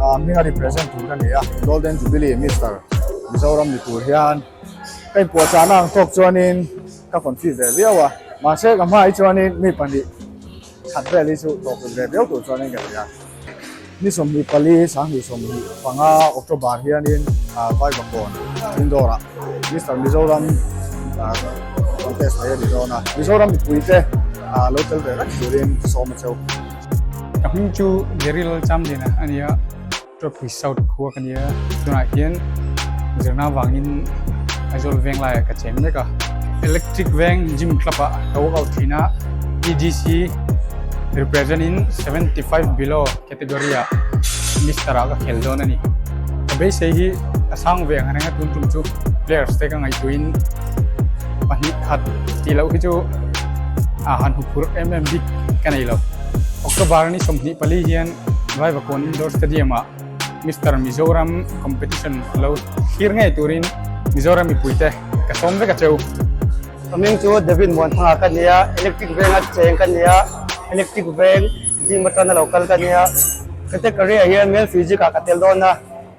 a hming a represent tur ka ni a golden jubilee Mister Mizoram ni tur hian ka inpuah chah na ang thawk chuanin ka confuse ve viau a mahse ka hmai chuanin mi pahnih that vel hi chu tawhput ve viau tur chuanin ka ni a ni sawmhnih pali sanghnih sawmhnih panga October hianin vai bakhawn indoor ah Mister Mizoram contest mai a ni dawn a Mizoram mipui te lo tel ve vek turin sawma cheu. Ka hming chu Jerry Lalcham Lena a nia, Tropis South khua ka nia, tunah hian zirna vangin Aizawl veng laiah ka cheng mek a. Electric veng Gym Club ah ka walk out thin a, EDC represent in seventy five below category ah Mister ah ka khel dawn a ni. Ka beisei hi a sang ve ang a reng a, tun tum chu players te ka ngaihtuihin pahnih khat tih loh hi chu a han huphurh em em bik. ka nei lo. October ni sawmhnih pali hian Vaivakkuan Indoor Stadium ah Mister Mizoram competition lo thlir ngei turin Mizoram mipuite ka sawm vek a cheu. Ka ming chu David Muanthanga ka ni a, electric venga cheng ka ni a, electric veng, dim atana lo kal ka ni a. Category ah hian male physics ah ka tel dawn a.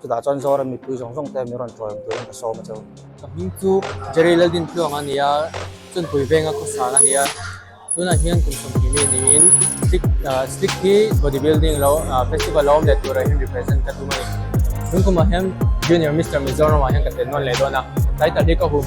Chutah chuan Zoram mipui zawng zawng te min rawn tawng tur in ka sawm a chau. Ka hming chu Jerry Lalbin Tluang a ni a, chuan Pui Venga khawsan a ni a. Tunah hian kum sawmthei mi niin Slik Slik hi body building lo festival lo awm leh turah hian represent ka tum a ni. Tun kumah hian Junior Mister Mizoram ah hian ka tel nawn leh dawn a, tlai tal hi ka hum.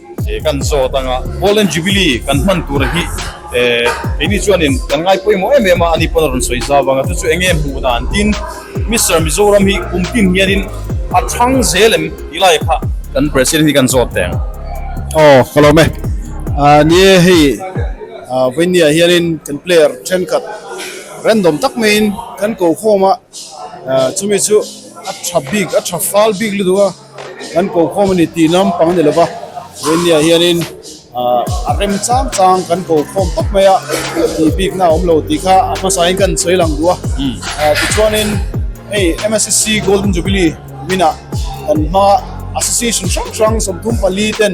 He kan zawt anga Golden Jubilee kan hman tur hi keini chuanin kan ngai pawimawh em em a, ani pawn a rawn sawi zau vang a, chu chu eng nge hmuh dan tin Mister Mizoram hi kum hlim hianin a thang zel em tih lai kha kan President hi kan zawt teh ang. Aw ka lawm e, ni e hei vainnia hianin kan player thenkhat random tak maiin kan ko khawm a, chumi chu a tha bik a tha fal bik lutuk a. Kan ko khawm a ni tih lampang a ni lova, vei ni ah hianin a rem chang chang kan ko khawm khawp mai a tih bikna a awm lo tih kha a hmasa in ka han sawi lang duh a, tichuanin hei msc golden jubilee minah kan hmanga association hrang hrang sawmthum pali ten,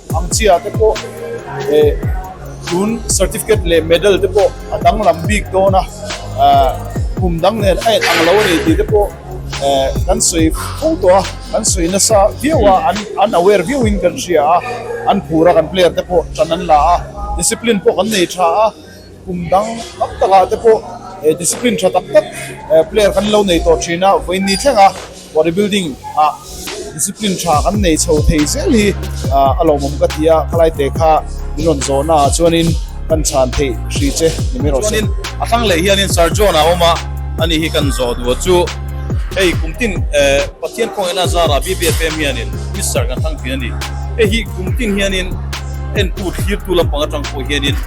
Ang chiah te pawh eh, tun certificate leh medal te pawh a danglam bik dawn a, kum dang nen a en ang lo a ni tih te pawh eh kan sawi fo tawh a, kan sawi nasa viau a, an aware viau in kan hria a, an phur a kan player te pawh tan an la a, discipline pawh kan nei tha a. Kum dang tam takah te pawh discipline tha tak tak player kan lo nei tawh thin a, vawiin ni thleng a Body Building ah discipline tha kan nei chho thei zel hi a lawmawm ka ti a, khalai te kha min rawn zawhna ah chuanin kan chhan theih hri che ni mai rawh se. A thlang leh hianin Sir John a awm a, a ni hi kan zawh duh chu hei kum tin Pathian kawng ena zar ah BBFM hianin Mister kan thlang thin a ni. Hei hi kum tin hianin en pu thlir tu lampang atang pawh hianin,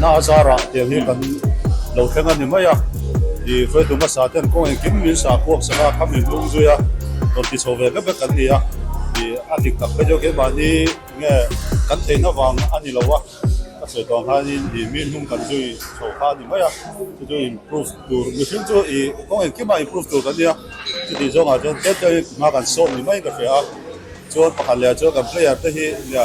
Na a zar ah tel hi kan lo thleng a ni mai a, i Hruaitu hmasa ten kawng eng kim min sa pawh sava a kham in lung zui a rawn ti chho ve vek vek kan ni a, i a dik tak phei deuh keimahni nge kan theih na vang a ni lo a, ka sawi tawng hian in i mi hnung kan zui chho kha a ni mai a, chuchu improve tur mihring chu i kawng eng kima improve tur kan ni a, chutih zawng ah chuan tlem tlem in hma kan sawm ni mai ka hria a, chuan pakhat leh ah chuan kan player te hi nia,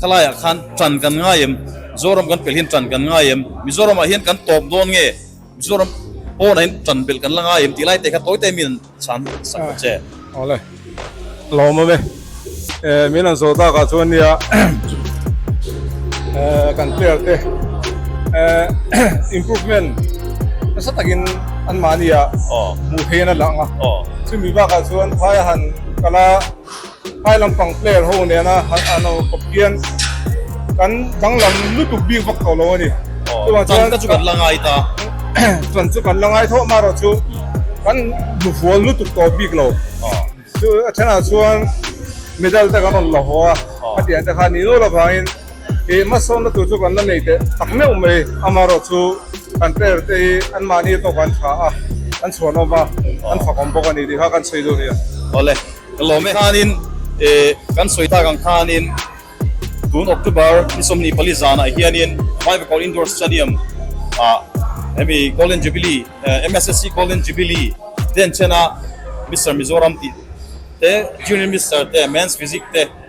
Kha laiah khan ṭan kan ngai em? Mizoram kan pelhin ṭan kan ngai em? Mizoramah hian kan tawp dawn nge? Mizoram pawnahhin ṭan belh kan la ngai em? Tih lai te kha tawite min an chhan sak ta che. Aw le, lawm awm e. Eh, min an zawh dakah chuan nia eh, kan player te eh, improvement nasa takin an mahni ah hmuh theihin a lang a. Chumi bakah chuan Thai-a han kal a. Helai lampang player ho nena han lo khawp hian kan danglam lutuk bik vak tawh lo a ni. Chuan chuan ka chu kan la ngai ta. Chuan chu kan la ngai thawh mah erawh chu kan hnufual lutuk tawh bik lo. Chu a thenah chuan medal te kan rawn la haw a, hetiang te khan nih lola vangin he hmasawnna tur chu kan la nei teh tak meuh mai. Amaherawhchu chu kan player te hi anmahni atawka an tha a, an chhuanawm a, an fakawm bawk a ni tih kha kan sawi dawn nia. Awle. Lawm e hanin kan sawi tak ang khanin tun October ni sawmhnih pali zanah hianin Vai Bakawng Indoor Stadium ah hemi Golden Jubilee, MSSC Golden Jubilee denchhena Mister Mizoram tih te, Junior Mister te, Men's Physique te,